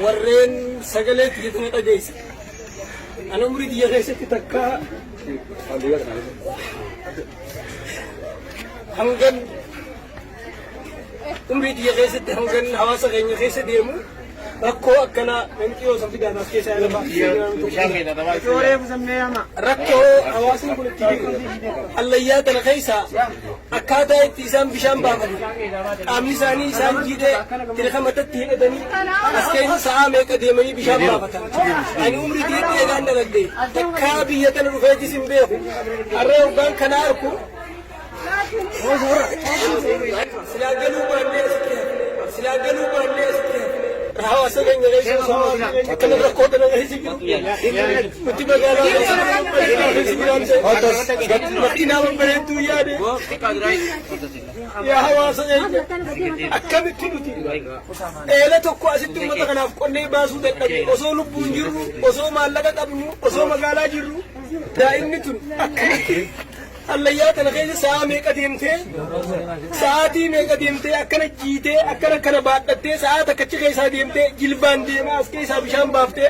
warreen sagalee kiyya tana dhageessa. Ani umrii kiyya keessatti takkaa hangan umrii kiyya keessatti hangan hawaasa keenya keessa deemu rakkoo akkanaa namni yoo san fidaan as keessaa lafa rakkoo hawaasni kun itti hallayyaa tana keessaa akkaataa itti isaan bishaan baafatu qaamni isaanii isaan jiidhee tirika matatti hidhatanii as keessa sa'aa meeqa deemanii bishaan baafatan ani umrii diidhee eegaan dalagde takkaa biyya tana dhufeetis hin beeku harree hoggaan kana arku silaa galuu baannee asitti hafe silaa galuu baannee asitti hafe hawaasa keenya keessa osoo akkana rakkoo kana keessa jiru Mati magaalaa Mati nama bareedduu yaade yaa hawaasa eenya akkamitti nuti eela tokko asitti uummata kanaaf qonnee baasuu dadhabne osoo lubbuun jirru osoo maallaqa qabnu osoo magaalaa jirru daa'imni tun akkamitti hallayyaa tana keessa sa'a meeqa deemtee sa'aatii meeqa deemtee akkana jiitee akkana kana baadhattee sa'a takkachi keessaa deemtee jilbaan deemaa as keessaa bishaan baaftee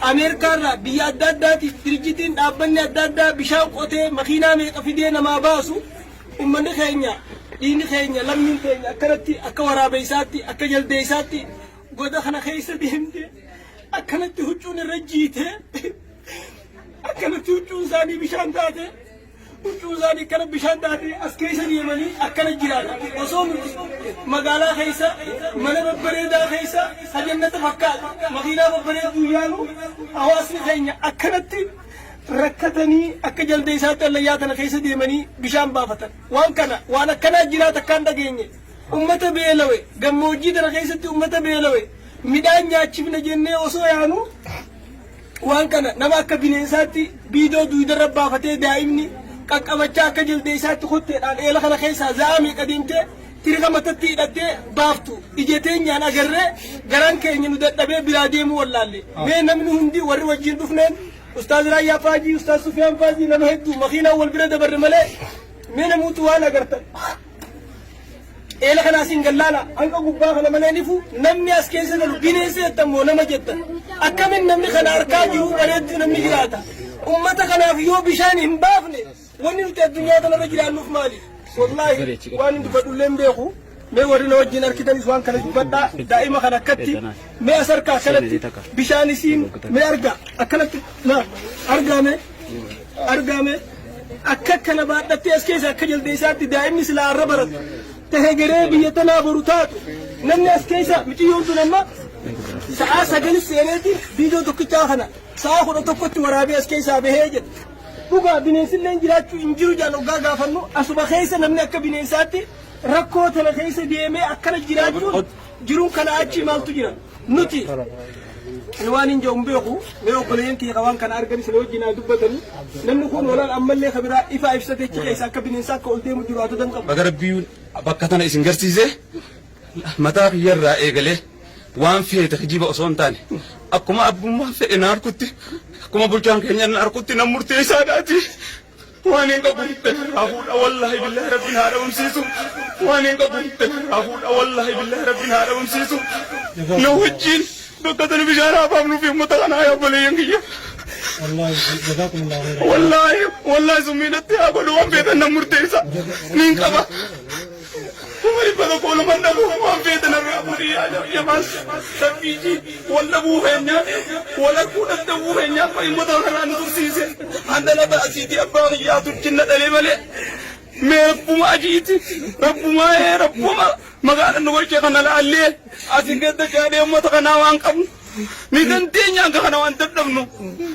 Ameerikaa irraa biyya adda addaatiif dirijjitiin dhaabbanni adda addaa bishaan qotee makiinaa meeqa fidee namaa baasu ummanni keenya dhiigni keenya lammiin keenya akkanatti akka waraabeessaatti akka jaldeessaatti goda kana keessa deemtee akkanatti huccuun irra jiitee akkanatti huccuun isaanii bishaan taatee. Huccuun isaanii akkana bishaan taatee as keessa deemanii akkana jiraata. Osoo nuti magaalaa keessa mana babbareedaa keessa hajannata fakkaatu makiinaa babbareeduu yaalu hawaasni keenya akkanatti rakkatanii akka jaldeessaatti hallayyaa tana keessa deemanii bishaan baafatan. Waan kana waan akkanaa jiraata akkaan dhageenye. Ummata beelawe gammoojjii tana keessatti ummata beelawe midhaan nyaachifna jennee osoo yaanu Waan kana nama akka bineensaatti biidoo duuydarra baafatee daa'imni qaqqabachaa akka jaldeeysaatti kotteedhaan eela kana keessaa za'aa meeqa deemtee tirika matatti hidhattee baaftu ija teenyaan agarree garaan keenya nu dadhabee biraa deemuu wallaalle. Mee namni hundi warri wajjin dhufneen Ustaaz Raayyaa Faajii, Ustaaz Sufiyaan Faajii nama hedduu makiinaan wal bira dabarre malee mee namuutu waan agartan. Eela kana asiin gallaala hanga gubbaa kana malee nifu namni as keessa galu bineensa jettan moo nama jettan akkamin namni kana harkaa jiru bareetti namni jiraata ummata kanaaf yoo bishaan hin baafne wanni nuti addunyaa kanarra jiraannuuf maali wallaahi waan hin dubbadhullee hin beeku mee warri na wajjin harkitanis waan kana dubbadhaa daa'ima kana akkatti mee as harkaa akkanatti bishaan isiin mee argaa akkanatti na argaa mee argame akka kana baadhattee as keessa akka jaldeessaatti daa'imni silaa arra baratu tahe garee biyya tanaa boru taatu namni as keessa miciyyoon sun amma sa'aa sagalis seeneeti biidoo tokkichaa kana sa'aa kudha tokkotti waraabee as keessaa bahee jedha. Dhugaa bineensillee jiraachuu hin jiru jaan oggaa gaafannu asuma keessa namni akka bineensaatti rakkoo tana keessa deemee akkana jiraachuun Jiruun kanaa achii maaltu jira? Nuti ani waan hin jedhu hin beeku mee obboleeyyan kiyya ka waan kana arganis na wajjin haa dubbatanii namni kun olaal ammallee ka biraa ifaa ibsatee achi keessa akka bineensaa akka ol deemu jiru haa tutan qabu. Baga Rabbiin bakka tana isin garsiise mataa kiyyarraa eegalee waan feete kijiba osoo hin taane akkuma abbummaan fedhe na harkutti akkuma bulchaan keenya na harkutti nan murteessaadhaati Waan hin qabu hidda narraa fuudha wallaahi billaahi rabbiin haa dhabamsiisu. Waan hin qabu hidda narraa fuudha wallaahi billaahi rabbiin haa dhabamsiisu. Na wajjin bakka tana bishaan haa baafnu fi uummata kana haa obboleeyyan kiyya. Wallaahi wallaahi summii natti haa godhu waan beekan nan murteessa. Niin qaba. Kuma dhibba tokko nama dhabu waan feete narraa fuudhi yaa jamaas rabbiiji wal dhabuu keenya wal arguu danda'uu keenya abba himmata kanarraa nu tursiise handala baasiiti abbaa kiyyaa turchinna dhalee malee mee rabbuma ajiiti rabbuma ee rabbuma magaala nu gochee kana laallee asin gadda gaadhee ummata kanaa waan qabnu ni dandeenya hanga kana waan dadhabnu.